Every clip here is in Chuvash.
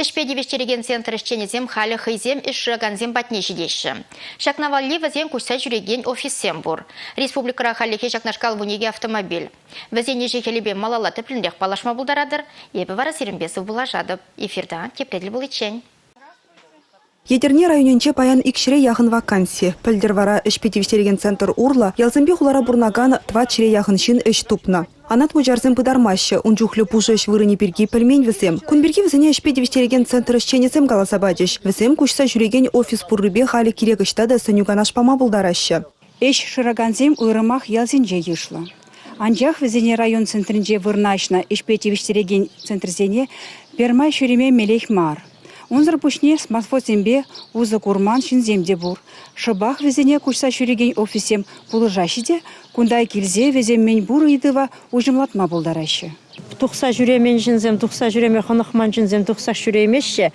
Ӗҫпе тивӗҫтерекен центр ӗҫченӗсем халӗ хӑйсем ӗҫ шыракансем патне ҫитеҫҫӗ. Ҫакна валли вӗсен куҫса ҫӳрекен офиссем пур. Республикӑра хальлӗхе ҫакнашкал вун икӗ автомобиль. Вӗсен ӗҫӗ-хӗлӗпе малалла тӗплӗнрех паллашма пултаратӑр. Эпӗ вара сирӗнпе сывпуллашатӑп. Эфирта тепре тӗл пуличчен. Етӗрне районӗнче паян икҫӗре яхӑн ваканси. Пӗлтӗр вара ӗҫпе тивӗҫтерекен центр урлӑ ялсемпе хулара пурӑнакан тӑват ҫӗре яхӑн ҫын ӗҫ тупнӑ. Анат Мучарсем пытармаҫҫӗ, ун чухлӗ пушӑ ӗҫ вырӑнӗ пирки пӗлмен вӗсем. Кун пирки вӗсене ӗҫпе тивӗҫтерекен центр ӗҫченӗсем каласа пачӗҫ. Вӗсем куҫса ҫӳрекен офис пуррипе халӗ кирек ӑҫта та сӗнӳ-канаш пама пултараҫҫӗ. Ӗҫ шыракансем уйрӑмах ялсенче йышлӑ. Анчах вӗсене район центрӗнче вырнаҫнӑ ӗҫпе тивӗҫтерекен центрсене пӗрмай ҫӳреме мелех мар. Унсӑр пуҫне смартфонсемпе усӑ курман ҫынсем те пур. Шӑпах вӗсене куҫса ҫӳрекен офиссем пулӑшаҫҫӗ те кунта килсе вӗсем мӗн пур ыйтӑва уҫӑмлатма пултараҫҫӗ. Тухса ҫӳремен ҫынсем, тухса ҫӳреме хӑнӑхман ҫынсем тухса ҫӳреймеҫҫӗ.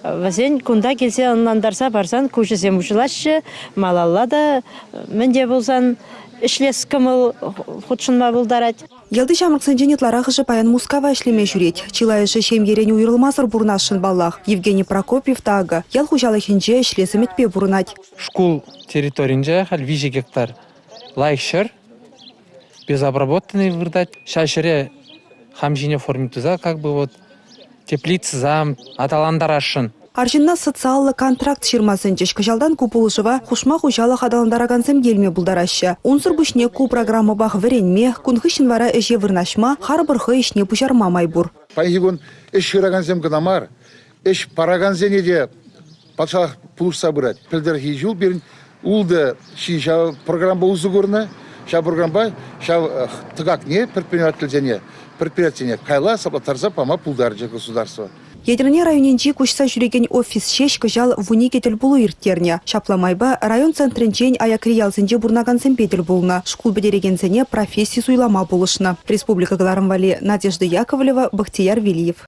Вӗсен кунта килсе ӑнлантарса парсан куҫӗсем уҫӑлаҫҫӗ. Малалла та мӗн те пулсан ӗҫлес кӑмӑл хутшӑнма пултарать. Ялти ҫамрӑксенчен ытларахӑшӗ паян Мускава ӗҫлеме ҫӳрет. Чылайӑшӗ ҫемьерен уйрӑлмасӑр пурӑнасшӑн паллах. Евгений Прокопьев та акӑ ял хуҫалӑхӗнче ӗҫлес ӗмӗтпе пурӑнать. Шкул территорийӗнче халь виҫӗ гектар лайӑх ҫӗр. Безобработанный выртать. Ҫав ҫӗре хам ҫине форме туса как бы вот теплица зам аталантарасшӑн. Арҫынна социаллӑ контракт ҫырма сӗнчӗҫ. Кӑҫалтан ку пулӑшӑва хушма хуҫалӑх аталантаракансем те илме пултараҫҫӗ. Унсӑр пуҫне ку программӑпах вӗренме, кун хыҫҫӑн вара ӗҫе вырнаҫма, харпӑр хӑй ӗҫне пуҫарма май пур. Паянхи кун ӗҫ шыракансем кӑна мар, Ӗҫ паракансене те патшалӑх пулӑшса пырать. Пӗлтӗрхи ҫул пирӗн ултӑ ҫын ҫав программа усӑ курнӑ. Ҫав программпа ҫав тӑкакне предпринимательсене, предприятисене кайла саплаттарса пама пултарчӗ государство. Етӗрне районӗнчи куҫса ҫӳрекен офис ҫеҫ кӑҫал вун икӗ тӗлпулу ирттернӗ. Ҫапла майпа район центрӗнчен аякри ялсенче пурӑнакансемпе тӗл пулнӑ, шкул пӗтерекенсене професси суйлама пулӑшнӑ. Республика кӑларӑм валли Надежда Яковлева, Бахтияр Вилиев.